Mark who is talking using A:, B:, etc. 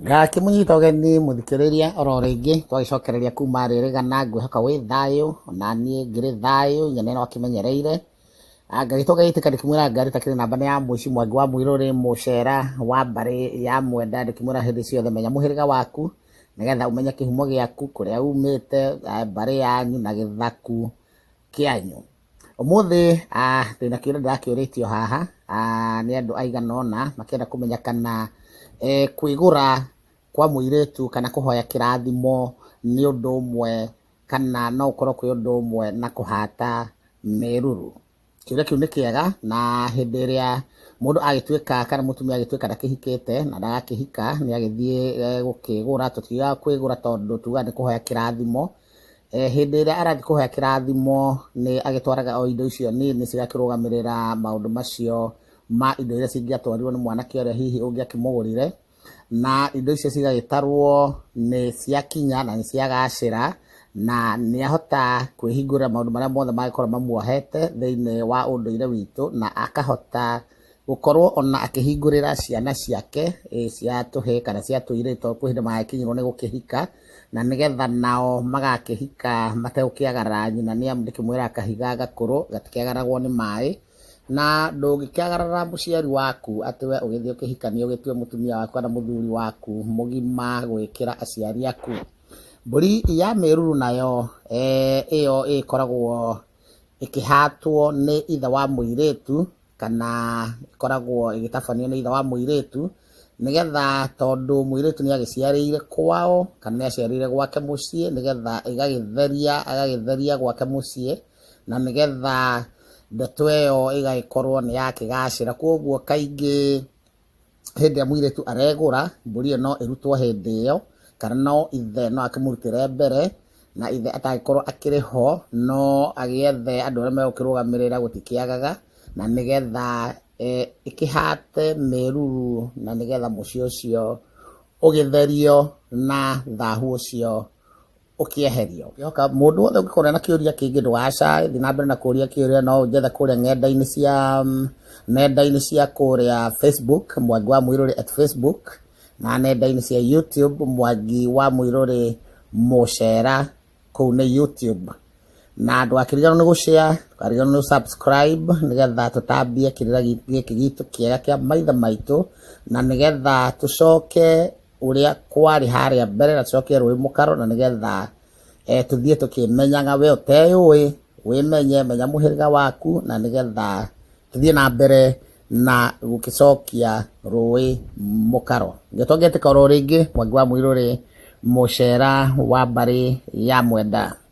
A: ngakĩmũnyita ũgeni mũthikĩrĩria oro rĩngĩ twagĩcokereria kuma rĩrĩgana ngwĩhoka wĩ thayũ na niĩ ngĩrĩ thayũ nyene no akĩmenyereire Ah, ngagĩtwo gagĩtĩka ndĩkĩmwĩra ngari takĩrĩ namba nĩ ya mũici mwangi wa mũirũrĩ mũcera wa mbarĩ ya mwenda ndĩkĩmwĩra hĩndĩ ciothe menya mũhĩrĩga waku nĩgetha ũmenye kĩhumo gĩaku kũrĩa umĩte ah, mbarĩ yanyu na gĩthaku kĩanyu Ũmũthĩ ndĩna kĩũria ndĩrakĩũrĩtio haha nĩ andũ aigana ũna makĩenda kũmenya kana kwĩgũra kwa mũirĩtu kana kũhoya kĩrathimo nĩ ũndũ ũmwe kana no ũkorwo kwĩ ũndũ ũmwe na kũhata meruru. Kĩũria kĩu nĩ kĩega na hĩndĩ ĩrĩa mũndũ agĩtuĩka kana mũtumia agĩtuĩka ndakĩhikĩte na ndagakĩhika nĩ agĩthiĩ gũkĩgũra, tũtiugaga kwĩgũra tondũ tugaga nĩ kũhoya kĩrathimo. Eh, hĩndĩ ĩrĩa arathiĩ kũhoya kĩrathimo nĩ agĩtwaraga o indo icio nini cigakĩrũgamĩrĩra maũndũ macio ma indo iria cingĩatwarirwo nĩ mwanake ũrĩa hihi ũngĩakĩmũgũrire na indo icio cigagĩtarwo nĩ ciakinya na nĩ ciagacĩra na nĩ ahota kwĩhingũrĩra maũndũ marĩa mothe mangĩkorwo mamuohete thĩinĩ wa ũndũire witũ na akahota gũkorwo ona akĩhingũrĩra ciana ciake eh, cia tũhĩ kana cia tũirĩ to kwĩ hĩndĩ magakinyirwo nĩ gũkĩhika na nĩgetha nao magakĩhika mategũkĩagara nyina nĩ amu ndĩkĩmwĩra kahiga gakũrũ gatikĩagaragwo nĩ maĩ na ndũngĩkĩagarara mũciari waku atĩ we ũgĩthiĩ ũkĩhikania ũgĩtue mũtumia waku kana mũthuri waku mũgima gwĩkĩra aciari aku mbũri ya mĩruru nayo eh, ĩyo ĩkoragwo ĩkĩhatwo nĩ ithe wa mũirĩtu kana ĩkoragwo ĩgĩtabanio nĩ ithe wa mũirĩtu, nĩgetha tondũ mũirĩtu nĩ agĩciarĩire kwao kana nĩ aciarĩire gwake mũciĩ, nĩgetha ĩgagĩtheria agagĩtheria gwake mũciĩ, na nĩgetha ndeto ĩyo ĩgagĩkorwo nĩ yakĩgacĩra. Koguo kaingĩ hĩndĩ ĩrĩa mũirĩtu aregũra, mbũri ĩyo no ĩrutwo hĩndĩ ĩyo, kana no ithe no akĩmũrutĩre mbere, na ithe atangĩkorwo akĩrĩ ho, no agĩethe andũ arĩa megũkĩrũgamĩrĩra gũtikĩagaga, na nĩgetha ĩkĩhate mĩruru na nĩgetha mũciĩ ũcio ũgĩtherio na thahu ũcio. ũkĩeherio. Ũkĩhoka mũndũ wothe ũngĩkorwo ena kĩũria kĩngĩ ndũgacae, thiĩ na mbere na kũũria kĩũria, no ũnjethe kũrĩa ng'enda-inĩ cia nenda-inĩ cia kũrĩa Facebook, Mwangi wa Mũirũrĩ at Facebook, na nenda-inĩ cia YouTube, Mwangi wa Mũirũrĩ Mũcera, kũu nĩ YouTube. Na ndũgakĩriganĩrwo nĩ gũshare, ndũkariganĩrwo nĩ subscribe nĩgetha tũtambie kĩrĩra gĩkĩ gitũ kĩega kĩa maithe maitũ, na nĩgetha tũcoke ũrĩa kwarĩ harĩa mbere na tũcoke rũĩ mũkaro na nĩgetha eh, tũthiĩ tũkĩmenyaga we ũteyũĩ wĩmenye menya mũhĩrĩga waku na nĩgetha tũthiĩ na mbere na gũkĩcokia rũĩ mũkaro ngĩtwa ngĩtĩka oro rĩngĩ mwangi wa mũirũrĩ mũcera wa mbarĩ ya mwenda